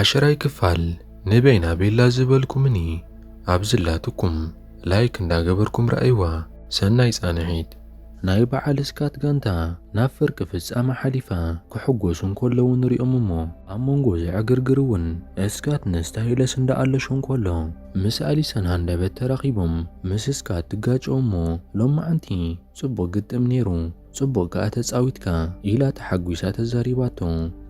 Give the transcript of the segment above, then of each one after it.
ዓሽራይ ክፋል ንበይና ቤላ ዝበልኩምኒ ኣብ ዝላትኩም ላይክ እንዳገበርኩም ረኣይዋ ሰናይ ጻንሒት። ናይ በዓል ስካት ጋንታ ናብ ፍርቂ ፍጻመ ሓሊፋ ክሕጎሱ እንከለዉ ንሪኦም እሞ ኣብ መንጎ እዚ ዕግርግር እውን ስካት ንስታይለስ እንዳ ኣለሾ እንከሎ ምስ ኣሊሰን ሃንደበት ተራኺቦም ምስ ስካት ትጋጨዉ እሞ ሎማዓንቲ ጽቡቅ ግጥም ኔሩ ጽቡቕ ከኣ ተጻዊትካ፣ ኢላ ተሓጒሳ ተዛሪባቶ።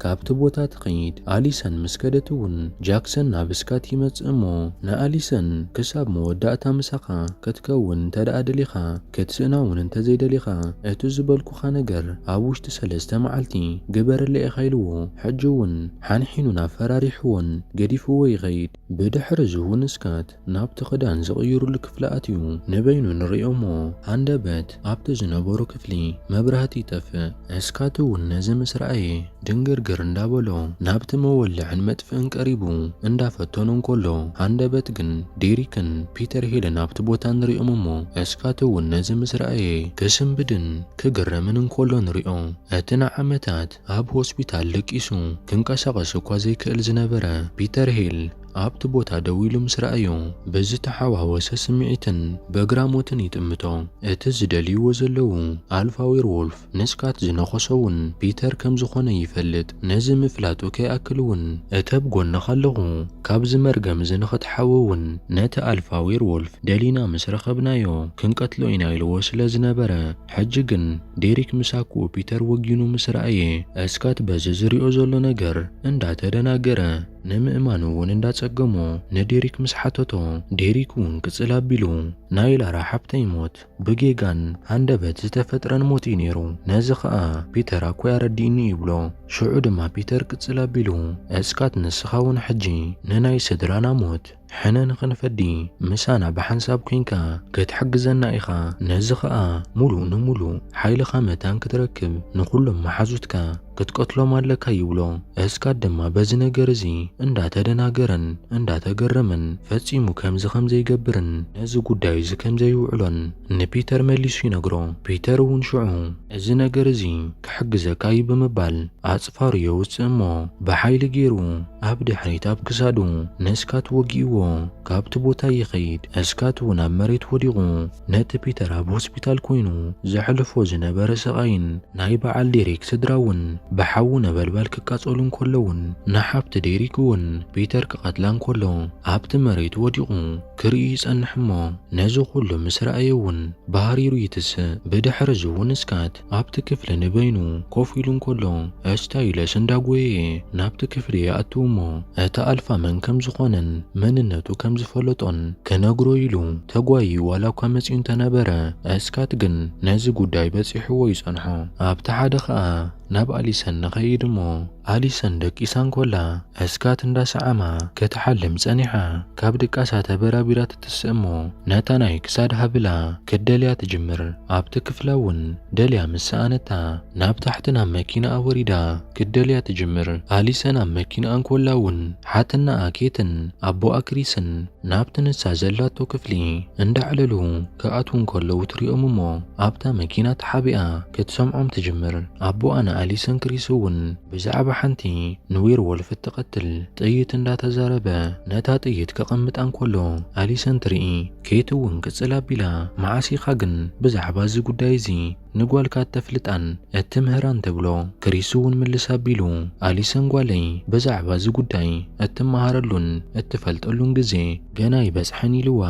ካብቲ ቦታ ትኸይድ። ኣሊሰን ምስ ከደት'ውን ጃክሰን ናብ ስካት ይመጽእ እሞ ንኣሊሰን፣ ክሳብ መወዳእታ ምሳኻ ክትከውን እንተደኣ ደሊኻ፣ ክትስእና'ውን እንተዘይደሊኻ፣ እቲ ዝበልኩኻ ነገር ኣብ ውሽጢ ሰለስተ መዓልቲ ግበረለይ ኢኻ ኢልዎ። ሕጂ'ውን ሓንሒኑን ኣፈራሪሕዎን ገዲፍዎ ይኸይድ። ብድሕር'ዚ'ውን ስካት ናብቲ ክዳን ዝቕይሩሉ ክፍሊ ኣትዩ ንበይኑ ንርእዮ'ሞ ሃንደበት ኣብቲ ዝነበሮ ክፍሊ መብራህቲ ይጠፍእ። እስካት'ውን ነዚ ምስ ረኣየ ድንግርግር እንዳበሎ ናብቲ መወልዕን መጥፍእን ቀሪቡ እንዳፈተኖ እንከሎ ሃንደበት ግን ዴሪክን ፒተር ሄልን ኣብቲ ቦታ ንርእዮም'ሞ እስካት'ውን ነዚ ምስ ረኣየ ክስንብድን ክግረምን እንከሎ ንርእዮ። እቲ ንዓመታት ኣብ ሆስፒታል ደቂሱ ክንቀሳቐስ እኳ ዘይክእል ዝነበረ ፒተር ሄል፣ ኣብቲ ቦታ ደው ኢሉ ምስ ረኣዮ፣ ብዝተሓዋወሰ ስምዒትን በግራሞትን ይጥምቶ። እቲ ዝደልይዎ ዘለዉ ኣልፋ ዌርዎልፍ ንስካት ዝነኸሶ እውን ፒተር ከም ዝኾነ ይፈልጥ። ነዚ ምፍላጡ ከይኣክል እውን እተብ ጎንኻ ኣለኹ፣ ካብዚ መርገም እዚ ንኽትሓዊ እውን ነቲ ኣልፋ ዌርዎልፍ ደሊና ምስ ረኸብናዮ ክንቀትሎ ኢና ኢልዎ ስለ ዝነበረ። ሕጂ ግን ዴሪክ ምስ ኣኩኡ ፒተር ወጊኑ ምስ ረኣየ፣ እስካት በዚ ዝሪኦ ዘሎ ነገር እንዳተደናገረ፣ ንምእማን እውን እንዳጸገሞ ንዴሪክ ምስ ሓተቶ ዴሪክ እውን ቅጽል ኣቢሉ ናይ ላራ ሓብተይ ሞት ብጌጋን ሃንደበት ዝተፈጥረን ሞት እዩ ነይሩ ነዚ ከኣ ፒተር ኣኮይ ኣረዲእኒ ይብሎ ሽዑ ድማ ፒተር ቅጽል ኣቢሉ እስካት ንስኻ እውን ሕጂ ንናይ ስድራና ሞት ሕነ ንኽንፈዲ ምሳና ብሓንሳብ ኲንካ ክትሕግዘና ኢኻ፣ ነዚ ኸኣ ምሉእ ንምሉእ ሓይልኻ መታን ክትረክብ ንዅሎም መሓዙትካ ክትቀትሎም ኣለካ ይብሎ። እስካት ድማ በዚ ነገር እዚ እንዳ ተደናገረን እንዳ ተገረመን ፈጺሙ ከምዚ ከም ዘይገብርን ነዚ ጕዳዩ እዚ ከም ዘይውዕሎን ንፒተር መሊሱ ይነግሮ። ፒተር እውን ሽዑ እዚ ነገር እዚ ክሕግዘካ እዩ ብምባል ኣጽፋሩ የውጽእ እሞ ብሓይሊ ጌሩ ኣብ ድሕሪት ኣብ ክሳዱ ንስካት ወጊእዎ ካብቲ ቦታ ይኸይድ። እስካት እውን ኣብ መሬት ወዲቑ ነቲ ፒተር ኣብ ሆስፒታል ኮይኑ ዘሕልፎ ዝነበረ ስቓይን ናይ በዓል ዴሪክ ስድራ እውን ብሓዊ ነበልባል ክቃጸሉ እንከለውን ንሓብቲ ዴሪክ እውን ፒተር ክቐትላ እንከሎ ኣብቲ መሬት ወዲቑ ክርኢ ይጸንሕ እሞ፣ ነዚ ኹሉ ምስ ረኣየ እውን ባህሪሩ ይትስእ። ብድሕሪ እዚ እውን ስካት ኣብቲ ክፍሊ ንበይኑ ኮፍ ኢሉ እንከሎ፣ እስታይለስ እንዳጎየየ ናብቲ ክፍሊ ይኣቱ እሞ እቲ ኣልፋ መን ከም ዝኾነን መንነቱ ከም ዝፈለጦን ክነግሮ ኢሉ ተጓይዩ ዋላ እኳ መጺኡ እንተነበረ፣ ስካት ግን ነዚ ጉዳይ በጺሕዎ ይጸንሖ። ኣብቲ ሓደ ከኣ ናብ ኣሊሰን ንኸይድ እሞ፣ ኣሊሰን ደቂሳ እንኮላ ዕስካት እንዳ ሰዓማ ክትሓልም ጸኒሓ ካብ ድቃሳ ተበራቢራ ትትስእ እሞ ነታ ናይ ክሳድ ሃብላ ክትደልያ ትጅምር ኣብቲ ክፍላ ውን ደልያ ምስ ሰኣነታ ናብ ታሕቲ ናብ መኪናኣ ወሪዳ ክትደልያ ትጅምር ኣሊሰን ኣብ መኪናኣ እንኮላ ውን ሓትነኣ ኬትን ኣቦኣ ክሪስን ናብቲ ንሳ ዘላቶ ክፍሊ እንዳዕለሉ ክኣትዉ እንከለዉ ትሪኦም እሞ ኣብታ መኪና ተሓቢኣ ክትሰምዖም ትጅምር። ኣቦኣ ንኣሊሰን ክሪስ እውን ብዛዕባ ሓንቲ ንዌርዎልፍ እትቐትል ጥይት እንዳተዛረበ ነታ ጥይት ከቐምጣ እንከሎ ኣሊሰን ትርኢ። ኬት እውን ቅጽል ኣቢላ መዓስ ኢኻ ግን ብዛዕባ እዚ ጉዳይ እዚ ንጓልካ እተፍልጣን እትምህራን ትብሎ። ክሪስ እውን ምልስ ኣቢሉ፣ ኣሊሰን ጓለይ ብዛዕባ እዚ ጕዳይ እትመሃረሉን እትፈልጠሉን ግዜ ገና ኣይበጽሐን ኢልዋ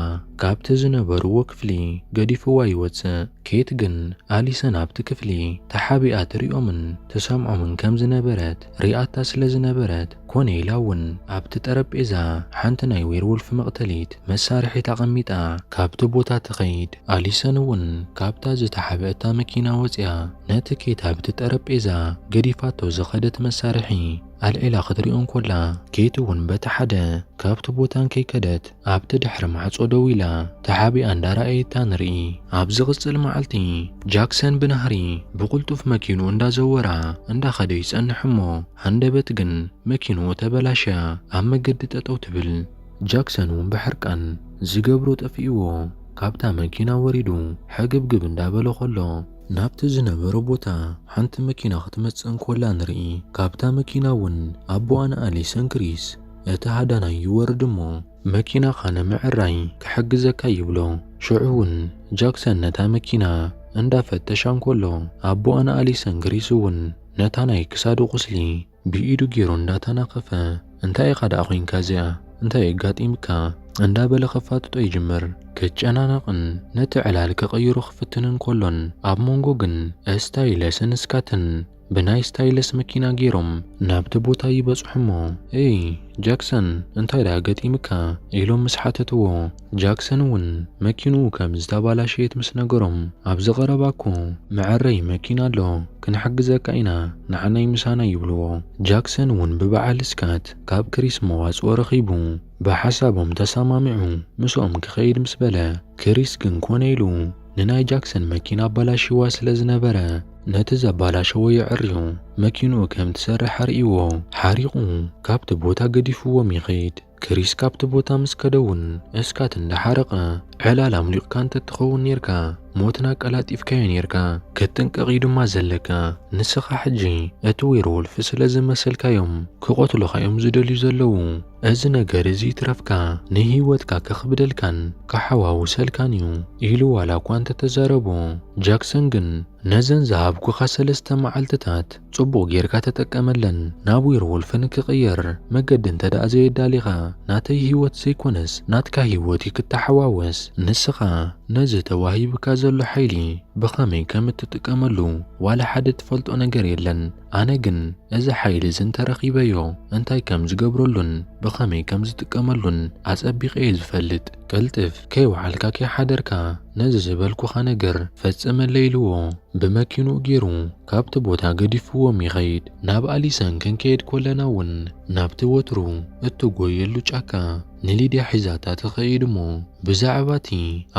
ኻብቲ ዝነበርዎ ክፍሊ ገዲፍዋ ይወጽእ። ኬት ግን ኣሊሰን ኣብቲ ክፍሊ ተሓቢኣ ትርእዮምን ትሰምዖምን ከም ዝነበረት፣ ሪኣታ ስለ ዝነበረት፣ ኮነ ኢላ እውን ኣብቲ ጠረጴዛ ሓንቲ ናይ ዌርዎልፍ መቕተሊት መሳርሒት ኣቐሚጣ ካብቲ ቦታ ትኸይድ። ኣሊሰን እውን ካብታ ዝተሓብእታ መኪና ወጺኣ ነቲ ኬት ኣብቲ ጠረጴዛ ገዲፋቶ ዝኸደት መሳርሒ ኣልዒላ ክትሪኦ እንኮላ፣ ኬት እውን በቲ ሓደ ካብቲ ቦታ እንከይከደት፣ ኣብቲ ድሕሪ ማዕጾ ደው ኢላ ተሓቢኣ እንዳረኣየታ ንርኢ። ኣብ ዝቕጽል መዓልቲ ጃክሰን ብናህሪ ብቕልጡፍ መኪንኡ እንዳዘወራ እንዳኸደ ይጸንሕ እሞ ሃንደበት ግን መኪንኡ ተበላሽያ ኣብ መገዲ ጠጠው ትብል። ጃክሰን እውን ብሕርቃን ዝገብሮ ጠፊእዎ ካብታ መኪና ወሪዱ ሕግብግብ እንዳበለ ከሎ፣ ናብቲ ዝነበሮ ቦታ ሓንቲ መኪና ክትመጽእ እንኮላ ንርኢ። ካብታ መኪና እውን ኣቡኣን ኣሊሰን ክሪስ እቲ ሃዳናይ ይወርድ እሞ መኪናኻ ንምዕራይ ክሕግዘካ ይብሎ። ሽዑ እውን ጃክሰን ነታ መኪና እንዳ ፈተሻ እንከሎ ኣቦኣን ኣሊሰን ግሪስ እውን ነታ ናይ ክሳዱ ቁስሊ ብኢዱ ገይሩ እንዳ ተናኸፈ እንታይ ኢኻ ደኣ ኮይንካ እዚኣ እንታይ ኣጋጢምካ እንዳ በለ ከፋጥጦ ይጅምር። ክጨናነቕን ነቲ ዕላል ክቕይሮ ክፍትንን ከሎን ኣብ መንጎ ግን እስታይለስን ስካትን ብናይ ስታይለስ መኪና ገይሮም ናብቲ ቦታ ይበጽሑሞ። እይ ጃክሰን እንታይ ደኣ ገጢምካ? ኢሎም ምስ ሓተትዎ፣ ጃክሰን እውን መኪንኡ ከም ዝተባላሸየት ምስ ነገሮም፣ ኣብዚ ቀረባ እኮ መዐረዪ መኪና ኣሎ፣ ክንሕግዘካ ኢና፣ ንዓናይ ምሳና ይብልዎ። ጃክሰን እውን ብበዓል ስካት ካብ ክሪስ መዋጽኦ ረኺቡ ብሓሳቦም ተሰማሚዑ ምስኦም ክኸይድ ምስ በለ፣ ክሪስ ግን ኮነ ኢሉ። ንናይ ጃክሰን መኪና ኣባላሽዋ ስለ ዝነበረ ነቲ ዘባላሸዎ የዕርዩ መኪንኡ ከም ትሰርሕ ኣርእይዎ ሓሪቑ ካብቲ ቦታ ገዲፍዎም ይኸይድ። ክሪስ ካብቲ ቦታ ምስ ከደውን እስካት እንዳሓረቐ ዕላል ኣምሊቑካ እንተትኸውን ኔርካ ሞትና ኣቀላጢፍካዮ ኔርካ ክትጥንቀቕ እዩ ድማ ዘለካ ንስኻ ሕጂ እቲ ዌርዎልፍ ስለ ዝመሰልካዮም ክቐትሉኻ እዮም ዝደልዩ ዘለዉ እዚ ነገር እዚ ይትረፍካ ንህይወትካ ከኽብደልካን ከሓዋውሰልካን እዩ ኢሉ ዋላ እኳ እንተ ተዛረቦ፣ ጃክሰን ግን ነዘን ዝሃብኩኻ ሰለስተ መዓልትታት ጽቡቕ ጌርካ ተጠቀመለን፣ ናብ ዌርዎልፍ ንክቕየር መገዲ እንተድኣ ዘየዳሊኻ፣ ናተይ ህይወት ዘይኮነስ ናትካ ህይወት እዩ ክተሓዋወስ፣ ንስኻ ነዚ ተዋሂብካ ዘሎ ሓይሊ ብኸመይ ከም እትጥቀመሉ ዋላ ሓደ ትፈልጦ ነገር የለን፣ ኣነ ግን እዚ ሓይሊ እዚ እንተረኺበዮ እንታይ ከም ዝገብረሉን ብኸመይ ከም ዝጥቀመሉን ኣጸቢቐ እየ ዝፈልጥ። ቅልጥፍ ከይወዓልካ ከይሓደርካ ነዚ ዝበልኩኻ ነገር ፈጽመለይ ኢልዎ ብመኪንኡ ጌሩ ካብቲ ቦታ ገዲፍዎም ይኸይድ። ናብ ኣሊሰን ክንከይድ ኮለና እውን ናብቲ ወትሩ እትጎየሉ ጫካ ንሊድያ ሒዛታ ትኸይድ እሞ ብዛዕባ እቲ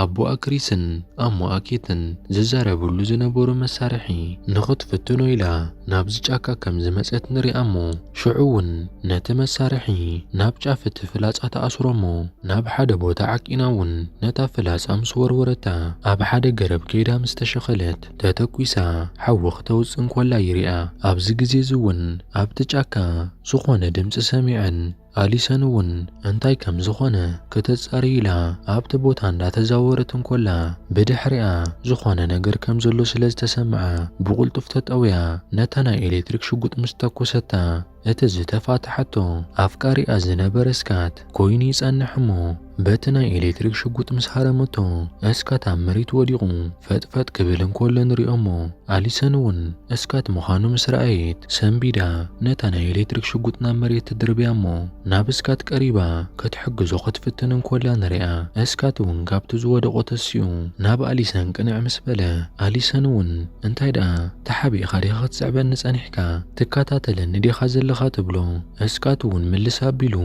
ኣቦኣ ክሪስን ኣሞኣ ኬትን ዝዛረብሉ ዝነበሩ መሳርሒ ንኽትፍትኖ ኢላ ናብዚ ጫካ ከም ዝመጸት ንሪኣ እሞ ሽዑ እውን ነቲ መሳርሒ ናብ ጫፍ እቲ ፍላጻ ትኣስሮ እሞ ናብ ሓደ ቦታ ዓቂና እውን ነታ ፍላጻ ምስ ወርወረታ ኣብ ሓደ ገረብ ከይዳ ምስ ተሸኸለት ተተኲሳ ሓዊ ክተውጽእ እንኮላ ይሪኣ ኣብዚ ግዜ እዚ እውን ኣብቲ ጫካ ዝኾነ ድምጺ ሰሚዐን ኣሊሰን እውን እንታይ ከም ዝኾነ ከተጻሪ ኢላ ኣብቲ ቦታ እንዳተዛወረት እንኮላ ብድሕሪኣ ዝኾነ ነገር ከም ዘሎ ስለ ዝተሰምዓ ብቕልጡፍ ተጠውያ ነታ ናይ ኤሌክትሪክ ሽጉጥ ምስ ተኮሰታ እቲ ዝተፋትሓቶ ኣፍቃሪኣ ዝነበረ ስካት ኮይኑ ይጸንሕ እሞ በቲ ናይ ኤሌክትሪክ ሽጉጥ ምስ ሃረመቶ እስካት ኣብ መሬት ወዲቑ ፈጥፈጥ ክብል እንኮሎ ንሪኦሞ ኣሊሰን እውን እስካት ምዃኑ ምስ ረኣየት ሰንቢዳ ነታ ናይ ኤሌክትሪክ ሽጉጥ ናብ መሬት ትድርብያ እሞ ናብ እስካት ቀሪባ ክትሕግዞ ክትፍትን እንኮላ ንሪኣ እስካት እውን ካብቲ ዝወደቖ ተሲኡ ናብ ኣሊሰን ቅንዕ ምስ በለ ኣሊሰን እውን እንታይ ደኣ ተሓቢእኻ ዲኻ ክትስዕበኒ ጸኒሕካ ትከታተለኒ ዲኻ ዘለኻ ትብሎ እስካት እውን ምልስ ኣቢሉ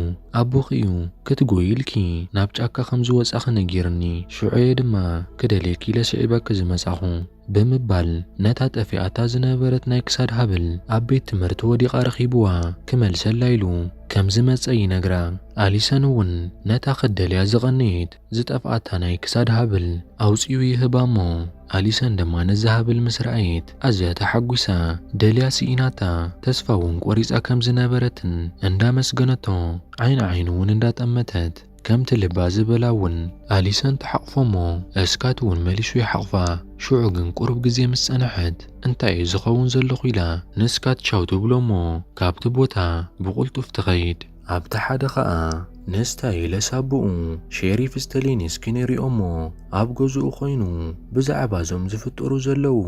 ኣቦኺ እዩ ክትጎዪ ኢልኪ ናብ ጫካ ከም ዝወጻኺ ነጊርኒ፣ ሽዑ'የ ድማ ክደልየኪ ኢለ ስዒበኪ ዝመጻኹ። ብምባል ነታ ጠፊኣታ ዝነበረት ናይ ክሳድ ሃብል ኣብ ቤት ትምህርቲ ወዲቓ ረኺብዋ ክመልሰላ ኢሉ ከም ዝመጸ ይነግራ። ኣሊሰን እውን ነታ ክትደልያ ዝቐነየት ዝጠፍኣታ ናይ ክሳድ ሃብል ኣውጺኡ ይህባ'ሞ፣ ኣሊሰን ድማ ነዚ ሃብል ምስ ረኣየት ኣዝያ ተሓጒሳ ደልያ ስኢናታ ተስፋ እውን ቆሪጻ ከም ዝነበረትን እንዳመስገነቶ ዓይን ዓይኑ እውን እንዳጠመተት ከምቲ ልባ ዝበላ እውን ኣሊሰን ትሓቕፎ'ሞ እስካት እውን መሊሱ ይሓቕፋ ሽዑ ግን ቁሩብ ግዜ ምስ ጸነሐት እንታይ እየ ዝኸውን ዘለኹ ኢላ ንስካት ቻው ትብሎ'ሞ ካብቲ ቦታ ብቕልጡፍ ትኸይድ። ኣብቲ ሓደ ኸኣ ንስታይለ ሳቡኡ ሼሪፍ ስተሊንስኪ ንሪኦ'ሞ ኣብ ገዝኡ ኮይኑ ብዛዕባ እዞም ዝፍጠሩ ዘለዉ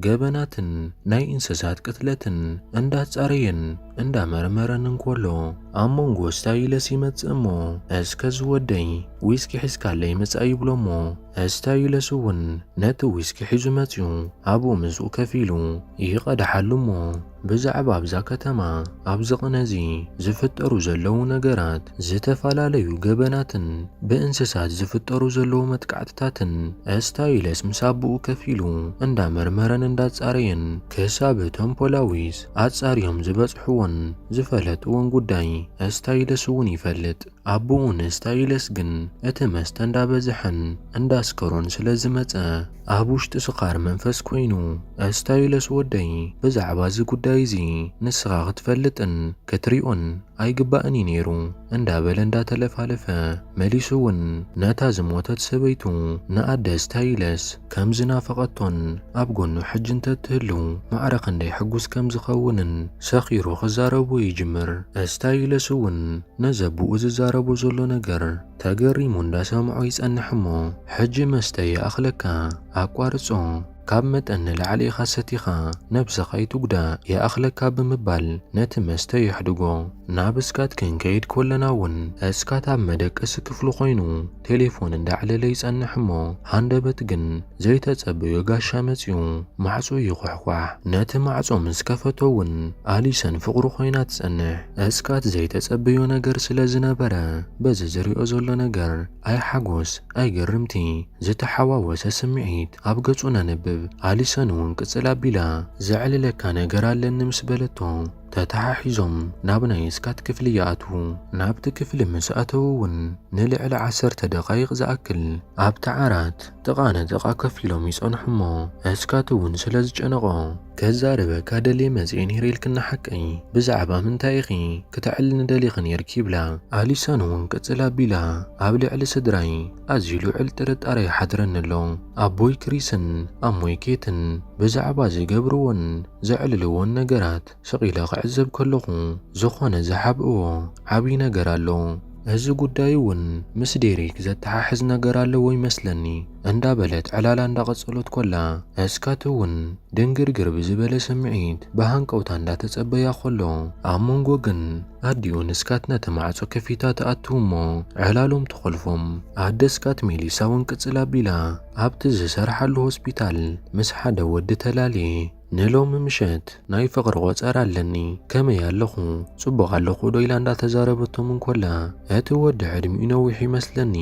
ገበናትን ናይ እንሰሳት ቅትለትን እንዳጻረየን እንዳመርመረን እንኮሎ ኣብ መንጎ ስታይለስ ይመጽእ'ሞ እስከ ዝወደይ ዊስኪ ሒዝካለይ ምጻእ ይብሎ'ሞ ስታይለስ'ውን ነቲ ዊስኪ ሒዙ መጽዩ ኣብኡ ምስኡ ከፍ ኢሉ ይቐድሓሉ'ሞ ብዛዕባ ኣብዛ ከተማ ኣብዚ ቅነ እዚ ዝፍጠሩ ዘለዉ ነገራት፣ ዝተፈላለዩ ገበናትን ብእንስሳት ዝፍጠሩ ዘለዉ መጥቃዕትታትን እስታይለስ ምስ ኣቦኡ ከፍ ኢሉ እንዳመርመረን እንዳጻረየን ክሳብ እቶም ፖላዊስ ኣጻርዮም ዝበጽሕዎን ዝፈለጥዎን ጉዳይ እስታይለስ እውን ይፈልጥ። ኣቡኡ ንስታይለስ ግን እቲ መስተ እንዳበዝሐን እንዳስከሮን ስለ ዝመጸ ኣብ ውሽጢ ስኻር መንፈስ ኮይኑ እስታይለስ ወደይ ብዛዕባ እዚ ጉዳይ እዚ ንስኻ ክትፈልጥን ክትሪኦን ኣይግባእን እዩ ነይሩ እንዳበለ እንዳተለፋለፈ መሊሱ እውን ነታ ዝሞተት ሰበይቱ ንኣደ ስታይለስ ከም ዝናፈቐቶን ኣብ ጎኑ ሕጂ እንተ እትህሉ ማዕረ ክንደይ ሕጉስ ከም ዝኸውንን ሰኺሩ ክዛረቦ ይጅምር። እስታይለስ እውን ነዚ ኣቦኡ ዝዛረቦ ዘሎ ነገር ተገሪሙ እንዳ ሰምዖ ይጸንሕ እሞ ሕጂ መስተ ይኣኽለካ ኣቋርጾ ካብ መጠን ንላዕሊ ኢኻ ሰቲኻ ነብስኻ ኣይትጉዳእ ይኣኽለካ ብምባል ነቲ መስተ የሕድጎ። ናብ እስካት ክንከይድ ኮለና እውን እስካት ኣብ መደቀሲ ክፍሉ ኮይኑ ቴሌፎን እንዳዕለለ ይጸንሕ እሞ ሃንደበት ግን ዘይተጸበዮ ጋሻ መጺኡ ማዕጾ ይኹሕኳሕ። ነቲ ማዕጾ ምስ ከፈቶ ውን ኣሊሰን ፍቕሩ ኮይና ትጸንሕ። እስካት ዘይተጸበዮ ነገር ስለ ዝነበረ በዚ ዝሪኦ ዘሎ ነገር ኣይ ሓጎስ ኣይ ግርምቲ ዝተሓዋወሰ ስምዒት ኣብ ገጹ ነንብብ። ኣሊሰን ውን ቅጽል ኣቢላ ዘዕልለካ ነገር ኣለኒ ምስ በለቶ፣ ተተሓሒዞም ናብ ናይ ስካት ክፍሊ ይኣትዉ። ናብቲ ክፍሊ ምስ ኣተዉ እውን ንልዕሊ ዓሰርተ ደቓይቕ ዝኣክል ኣብቲ ዓራት ጥቓ ንጥቓ ከፍ ኢሎም ይጸንሑ እሞ ስካት እውን ስለ ዝጨነቖ ከዛርበካ ደልየ መጺኤ ነይረ ኢልክን ንሓቀይ ብዛዕባ ምንታይ ኢኺ ክተዕልኒ ደሊኺ ነይርኪ ይብላ። ኣሊሰን እውን ቅጽል ኣቢላ ኣብ ልዕሊ ስድራይ ኣዝዩ ልዑል ጥርጣረ ይሓድረኒ ኣሎ። ኣቦይ ክሪስን ኣሞይ ኬትን ብዛዕባ ዝገብርዎን ዘዕልልዎን ነገራት ስቒለ ክዕዘብ ከለኹ ዝኾነ ዝሓብእዎ ዓብዪ ነገር ኣሎ። እዚ ጉዳይ እውን ምስ ዴሪክ ዘተሓሕዝ ነገር ኣለዎ ይመስለኒ እንዳ በለት ዕላላ እንዳ ቀጸሎት ኮላ እስካት እውን ድንግርግር ብዝበለ ስምዒት ብሃንቀውታ እንዳ ተጸበያ ኮሎ ኣብ መንጎ ግን ኣዲኡን እስካት ነቲ ማዕጾ ከፊታ ትኣትው እሞ ዕላሎም ትኾልፎም ኣደ እስካት ሜሊሳ እውን ቅጽል ኣቢላ ኣብቲ ዝሰርሓሉ ሆስፒታል ምስ ሓደ ወዲ ተላልየ ንሎሚ ምሸት ናይ ፍቕሪ ቆጸራ ኣለኒ ከመይ ኣለኹ ጽቡቕ ኣለኹ ዶ ኢላ እንዳተዛረበቶም እንኮላ እቲ ወዲ ዕድሚኡ ነዊሕ ይመስለኒ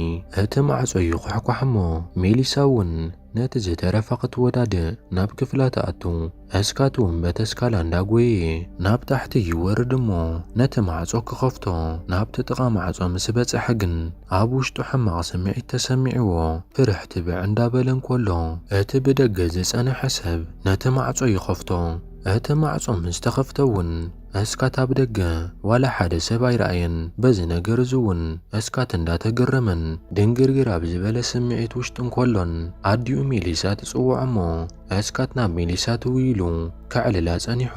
እቲ ማዕጾ ይኹሕኳሕ እሞ ሜሊሳ እውን ነቲ ዝተረፈ ክትወዳድእ ናብ ክፍላ ትኣቱ እስካትኩም በቲ እስካላ እንዳጎየየ ናብ ታሕቲ ይወርድ እሞ ነቲ ማዕጾ ክኸፍቶ ናብቲ ጥቃ ማዕጾ ምስ በጸሐ ግን ኣብ ውሽጡ ሕማቅ ስምዒት ተሰሚዕዎ ፍርሕ ትብዕ እንዳበለ እንኮሎ እቲ ብደገ ዝጸነሐ ሰብ ነቲ ማዕጾ ይኸፍቶ እቲ ማዕጾ ምስ ተኸፍተ እውን እስካት ኣብ ደገ ዋላ ሓደ ሰብ ኣይረኣየን በዚ ነገር እዚ እውን እስካት እንዳተገረመን ድንግርግር ኣብ ዝበለ ስምዒት ውሽጢ እንኮሎን ኣዲኡ ሜሊሳ ትጽውዖ እሞ ኣስካት ናብ ሜሊሳ ትውይ ኢሉ ከዕልላ ጸኒሑ፣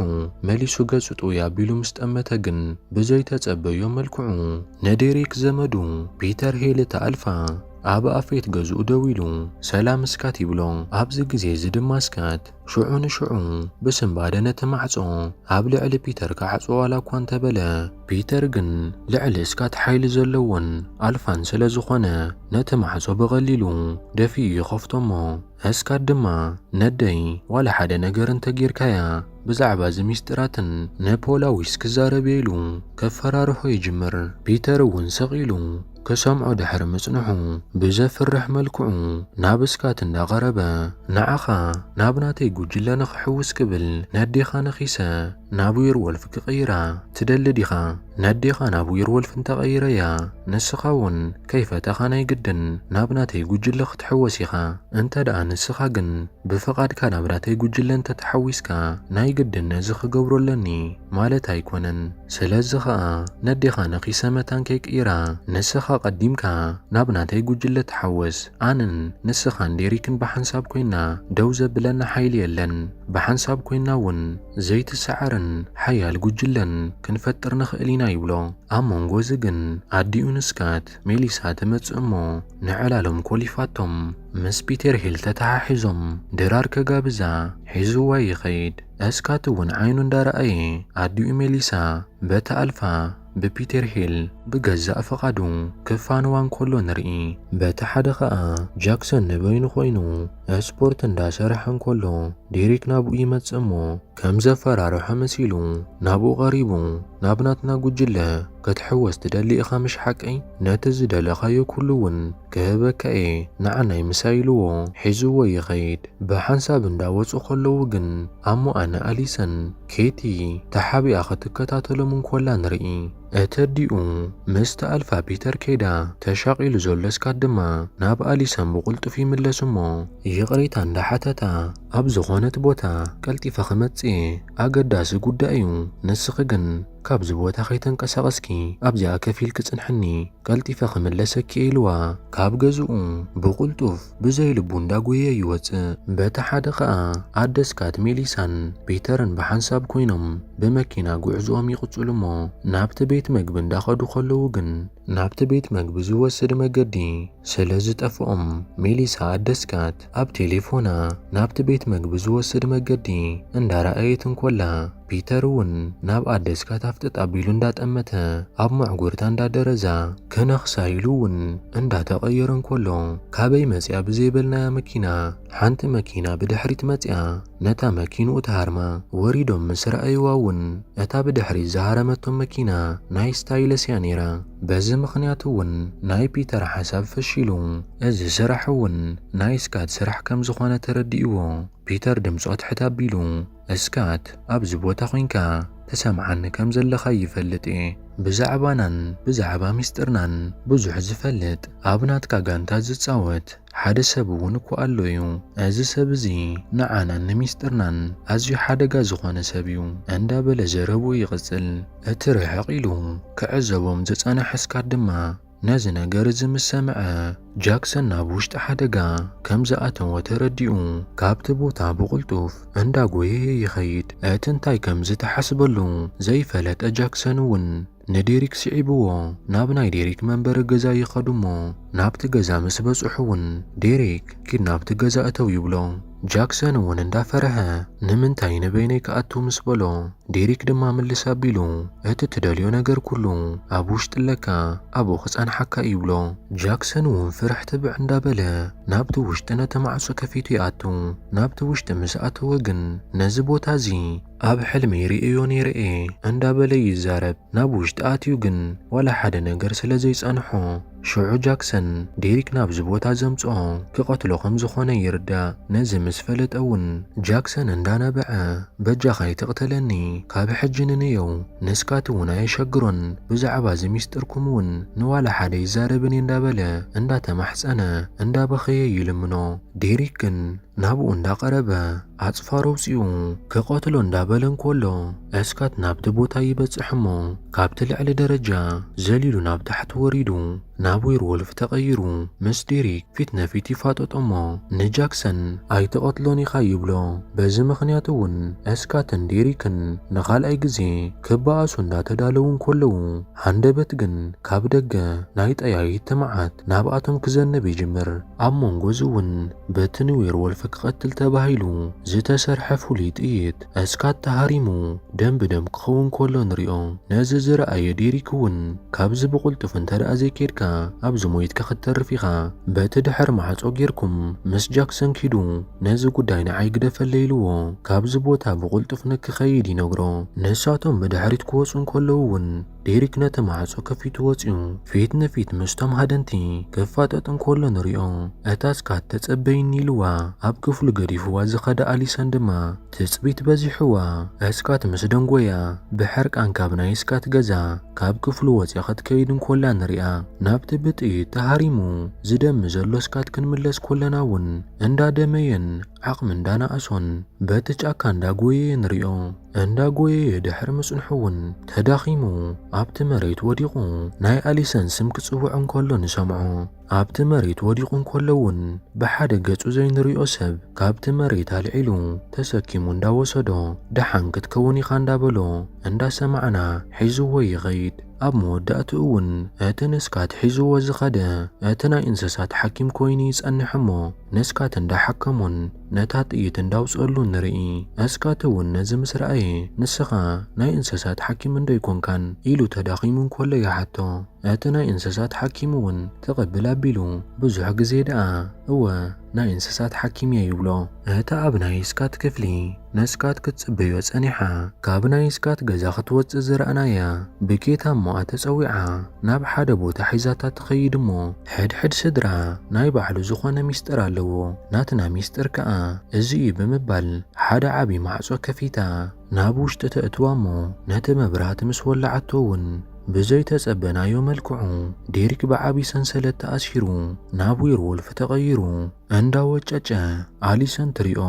መሊሱ ገጹ ጥውይ ኣቢሉ ምስ ጠመተ ግን ብዘይተጸበዮ መልክዑ ንዴሪክ ዘመዱ ፒተር ሄል እታ ኣልፋ ኣብ ኣፌት ገዝኡ ደው ኢሉ ሰላም እስካት ይብሎ። ኣብዚ ግዜ እዚ ድማ እስካት ሽዑ ንሽዑ ብስንባደ ነቲ ማዕጾ ኣብ ልዕሊ ፒተር ክዓጽዎ ዋላ እኳ እንተበለ፣ ፒተር ግን ልዕሊ እስካት ሓይሊ ዘለዎን ኣልፋን ስለ ዝኾነ ነቲ ማዕጾ ብቐሊሉ ደፊኡ ይኸፍቶ እሞ፣ እስካ ድማ ነደይ ዋላ ሓደ ነገር እንተጌርካያ ብዛዕባ እዚ ሚስጢራትን ንፖላዊስ ክዛረብየ ኢሉ ከፈራርሖ ይጅምር። ፒተር እውን ስቅ ኢሉ ክሰምዖ ድሕሪ ምጽንሑ ብዘፍርሕ መልክዑ ናብ እስካት እንዳቀረበ ንዓካ ናብ ናተይ ጉጅለ ንክሕውስ ክብል ነዴካ ነኪሰ ናብ ዌርወልፍ ክቕይራ ትደሊ ዲኻ? ነዴኻ ናብ ዌርወልፍ እንተቐይረያ፣ ንስኻ እውን ከይፈተኻ ናይ ግድን ናብ ናተይ ጉጅለ ክትሕወስ ኢኻ። እንተድኣ ንስኻ ግን ብፍቓድካ ናብ ናተይ ጉጅለ እንተተሓዊስካ፣ ናይ ግድን ነዚ ክገብሮ ኣለኒ ማለት ኣይኮነን። ስለዚ ኸኣ ነዴኻ ነኺሰ መታን ከይቅይራ፣ ንስኻ ቀዲምካ ናብ ናተይ ጉጅለ ተሓወስ። ኣነን ንስኻን ዴሪክን ብሓንሳብ ኮይንና ደው ዘብለና ሓይሊ የለን። ብሓንሳብ ኮይንና እውን ዘይትሰዓርን ሓያል ጉጅለን ክንፈጥር ንኽእል ኢና ይብሎ። ኣብ መንጎ እዚ ግን ኣዲኡ ንስካት፣ ሜሊሳ፣ ትመጽእ እሞ ንዕላሎም ኮሊፋቶም ምስ ፒተር ሂል ተተሓሒዞም ድራር ከጋብዛ ሒዝዋ ይኸይድ። እስካት'ውን ዓይኑ እንዳረኣየ ኣዲኡ ሜሊሳ በታ ኣልፋ ብፒተር ሂል ብገዛእ ፍቓዱ ክፋነዋ እንከሎ ንርኢ። በቲ ሓደ ከኣ ጃክሰን ንበይኑ ኮይኑ ስፖርት እንዳሰርሐ እንከሎ ዴሪክ ናብኡ ይመጽእ እሞ ከም ዘፈራርሖ መሲሉ ናብኡ ቀሪቡ ናብ ናትና ጉጅለ ክትሕወስ ትደሊ ኢኻ ምሽ ሓቀይ? ነቲ ዝደለኻዮ ኩሉ እውን ክህበካ እየ ንዓናይ ምሳይ ኢልዎ ሒዝዎ ይኸይድ። ብሓንሳብ እንዳ ወጹ ከለዉ ግን ኣሞ ኣነ ኣሊሰን ኬቲ ተሓቢኣ ክትከታተሎም እንኮላ ንርኢ። እተዲኡ ምስ ተኣልፋ ፒተር ከይዳ ተሻቂሉ ዘሎ ስካት ድማ ናብ ኣሊሰን ብቁልጡፍ ይምለስ እሞ ይቅሬታ እንዳ ሓተታ ኣብ ዝኾነት ቦታ ቀልጢፈ ክመጽእ እየ ኣገዳሲ ጉዳይ እዩ ንስኺ ግን ካብዚ ቦታ ከይተንቀሳቐስኪ ኣብዚኣ ከፍ ኢልኪ ጽንሕኒ ቀልጢፈ ክምለሰኪ እየ ኢልዋ ካብ ገዝኡ ብቕልጡፍ ብዘይ ልቡ እንዳጎየየ ይወጽእ። በቲ ሓደ ከኣ ኣደ ስካት ሜሊሳን ፒተርን ብሓንሳብ ኮይኖም ብመኪና ጉዕዝኦም ይቕጽሉ እሞ ናብቲ ቤት መግቢ እንዳኸዱ ከለዉ ግን ናብቲ ቤት መግቢ ዝወስድ መገዲ ስለ ዝጠፍኦም ሜሊሳ ኣደ ስካት ኣብ ቴሌፎና ናብቲ ቤት መግቢ ዝወስድ መገዲ እንዳረኣየት እንኮላ ፒተር እውን ናብ ኣደስ ካታፍጥጥ ኣቢሉ እንዳጠመተ ኣብ መዕጉርታ እንዳደረዛ ክነኽሳ ኢሉ እውን እንዳተቐየረ እንከሎ ካበይ መፂኣ ብዘይበልናያ መኪና ሓንቲ መኪና ብድሕሪት መፂኣ ነታ መኪንኡ ትሃርማ። ወሪዶም ምስ ረኣዩዋ እውን እታ ብድሕሪት ዝሃረመቶም መኪና ናይ ስታይለስ እያ ነይራ። በዚ ምኽንያት እውን ናይ ፒተር ሓሳብ ፈሺሉ። እዚ ስራሕ እውን ናይ ስካት ስራሕ ከምዝኾነ ተረዲእዎ ፒተር ድምፁ ኣትሕት ኣቢሉ። እስካት ኣብዚ ቦታ ኮንካ ትሰምዓኒ ከም ዘለኻ ይፈልጥ እየ። ብዛዕባናን ብዛዕባ ሚስጥርናን ብዙሕ ዝፈልጥ ኣብ ናትካ ጋንታ ዝጻወት ሓደ ሰብ እውን እኮ ኣሎ እዩ። እዚ ሰብ እዚ ንዓናን ንሚስጥርናን ኣዝዩ ሓደጋ ዝኾነ ሰብ እዩ እንዳ በለ ዘረብኡ ይቕጽል። እቲ ርሕቕ ኢሉ ክዕዘቦም ዝጸነሐ እስካት ድማ ነዚ ነገር እዚ ምስ ሰምዐ ጃክሰን ናብ ውሽጢ ሓደጋ ከም ዝኣተወ ተረዲኡ ካብቲ ቦታ ብቕልጡፍ እንዳጎየየ ይኸይድ። እቲ እንታይ ከም ዝተሓስበሉ ዘይፈለጠ ጃክሰን እውን ንዴሪክ ስዒብዎ ናብ ናይ ዴሪክ መንበሪ ገዛ ይኸዱ እሞ ናብቲ ገዛ ምስ በጽሑ እውን ዴሪክ ኪድ ናብቲ ገዛ እተው ይብሎ። ጃክሰን እውን እንዳፈረሀ ንምንታይ ንበይነይ ክኣቱ ምስ በሎ ዴሪክ ድማ ምልስ ኣቢሉ እቲ ትደልዮ ነገር ኩሉ ኣብ ውሽጢ ኣለካ ኣብኡ ክጸንሓካ እዩ ይብሎ። ጃክሰን እውን ፍርሕ ትብዕ እንዳበለ ናብቲ ውሽጢ ነቲ ማዕጾ ከፊቱ ይኣቱ። ናብቲ ውሽጢ ምስ ኣተወ ግን ነዚ ቦታ እዚ ኣብ ሕልመይ ሪኤዮ ነይረ እየ እንዳበለ ይዛረብ። ናብ ውሽጢ ኣትዩ ግን ዋላ ሓደ ነገር ስለዘይጸንሖ፣ ሽዑ ጃክሰን ዴሪክ ናብዚ ቦታ ዘምጽኦ ክቐትሎ ከም ዝኾነ ይርዳእ። ነዚ ምስ ፈለጠ ውን ጃክሰን እንዳ ነበዐ በጃኻ ኣይትቕተለኒ ካብ ሕጂ ንንየው ንስካቲ ውን ኣየሸግሮን ብዛዕባ እዚ ሚስጥርኩም ውን ንዋላ ሓደ ኣይዛረብን እየ እንዳ በለ እንዳ ተማሕጸነ እንዳ በኸየ ይልምኖ ዴሪክ ግን ናብኡ እንዳ ቀረበ ኣጽፋር ኣውጺኡ ክቐትሎ እንዳበለ እንኮሎ እስካት ናብቲ ቦታ ይበጽሕ እሞ ካብቲ ልዕሊ ደረጃ ዘሊሉ ናብ ታሕቲ ወሪዱ ናብ ዌርዎልፍ ተቐይሩ ምስ ዴሪክ ፊት ነፊት ይፋጠጦ እሞ ንጃክሰን ኣይትቐትሎን ኢኻ ይብሎ። በዚ ምኽንያት እውን እስካትን ዴሪክን ንኻልኣይ ግዜ ክበኣሱ እንዳተዳለዉ እንኮለዉ ሃንደበት ግን ካብ ደገ ናይ ጠያይት መዓት ናብኣቶም ክዘንብ ይጅምር። ኣብ መንጎ እዚ እውን በቲ ንዌርወልፍ ክቐትል ተባሂሉ ዝተሰርሐ ፍሉይ ጥይት እስካት ተሃሪሙ ደም ብደም ክኸውን ከሎ ንሪኦ። ነዚ ዝረኣየ ዴሪክ እውን ካብዚ ብቕልጡፍ እንተደኣ ዘይኬድካ ኣብዚ ሞይትካ ክትተርፍ ኢኻ፣ በቲ ድሕሪ ማዕጾ ጌርኩም ምስ ጃክሰን ኪዱ ነዚ ጉዳይ ንዓይ ግደፈለይ ኢልዎ ካብዚ ቦታ ብቕልጡፍ ንክኸይድ ይነግሮ። ንሳቶም ብድሕሪት ክወጹ እንከለዉ እውን፣ ዴሪክ ነቲ ማዕጾ ከፊቱ ወጺኡ ፊት ንፊት ምስቶም ሃደንቲ ክፋጠጥ እንከሎ ንሪኦ። እታ ስካት ተጸበይኒ ኢልዋ ኣብ ክፍሉ ገዲፍዋ ዝኸደ ኣሊሰን ድማ ትጽቢት በዚሕዋ ስካት ምስ ደንጎያ ብሕርቃን ካብ ናይ ስካት ገዛ ካብ ክፍሉ ወጺኣ ክትከይድ እንኮላ ንሪኣ። ናብቲ ብጥይት ተሃሪሙ ዝደሚ ዘሎ ስካት ክንምለስ ኮለና እውን እንዳደመየን ዓቕሚ እንዳናኣሶን በቲ ጫካ እንዳጎየየ ንሪኦ። እንዳጎየየ ድሕሪ ምጽንሑ እውን ተዳኺሙ ኣብቲ መሬት ወዲቑ ናይ ኣሊሰን ስም ክጽውዕ እንከሎ ንሰምዖ። ኣብቲ መሬት ወዲቑ እንከሎ እውን ብሓደ ገጹ ዘይንሪኦ ሰብ ካብቲ መሬት ኣልዒሉ ተሰኪሙ እንዳወሰዶ ደሓን ክትከውን ኢኻ እንዳበሎ እንዳሰማዕና ሒዝዎ ይኸይድ። ኣብ መወዳእትኡ እውን እቲ ንስካት ሒዝዎ ዝኸደ እቲ ናይ እንሰሳት ሓኪም ኮይኑ ይጸንሕ እሞ ነስካት እንዳ ሓከሙን ነታ ጥይት እንዳ ኣውጽእሉን ንርኢ ኣስካት እውን ነዚ ምስ ረኣየ ንስኻ ናይ እንሰሳት ሓኪም እንዶ ኣይኮንካን ኢሉ ተዳኺሙ እንኮሎ ይሓቶ እቲ ናይ እንሰሳት ሓኪም እውን ትቕብል ኣቢሉ ብዙሕ ግዜ ደኣ እወ ናይ እንሰሳት ሓኪም እየ ይብሎ እቲ ኣብ ናይ እስካት ክፍሊ ንስካት ክትጽበዮ ጸኒሓ ካብ ናይ ስካት ገዛ ክትወጽእ ዝረኣናያ ብኬታ እሞ ኣተጸዊዓ ናብ ሓደ ቦታ ሒዛታ ትከይድ እሞ ሕድሕድ ስድራ ናይ ባዕሉ ዝኮነ ሚስጥር ኣለዎ ናትና ሚስጥር ከኣ እዚ እዩ ብምባል ሓደ ዓቢ ማዕጾ ከፊታ ናብ ውሽጢ ተእትዋ እሞ ነቲ መብራህቲ ምስ ወላዓቶ ውን ብዘይ ተጸበናዮ መልክዑ ዴሪክ ብዓቢ ሰንሰለት ተኣሲሩ ናብ ዌርዎልፍ ተቀይሩ እንዳወጨጨ ኣሊሰን ትሪኦ።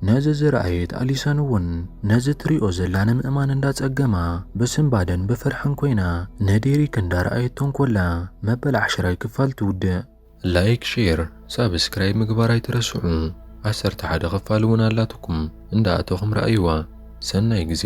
ነዚ ዝረኣየት ኣሊሰን እውን ነዚ ትሪኦ ዘላ ንምእማን እንዳፀገማ ብስንባደን ብፍርሕን ኮይና ንዴሪክ እንዳረኣየቶ እንኮላ መበል ዓሽራይ ክፋል ትውድእ። ላይክ ሼር ሳብስክራይብ ምግባር ኣይትረስዑ ዓሰርተ ሓደ ክፋል እውን ኣላትኩም እንዳኣተኹም ረኣይዋ ሰናይ ግዜ።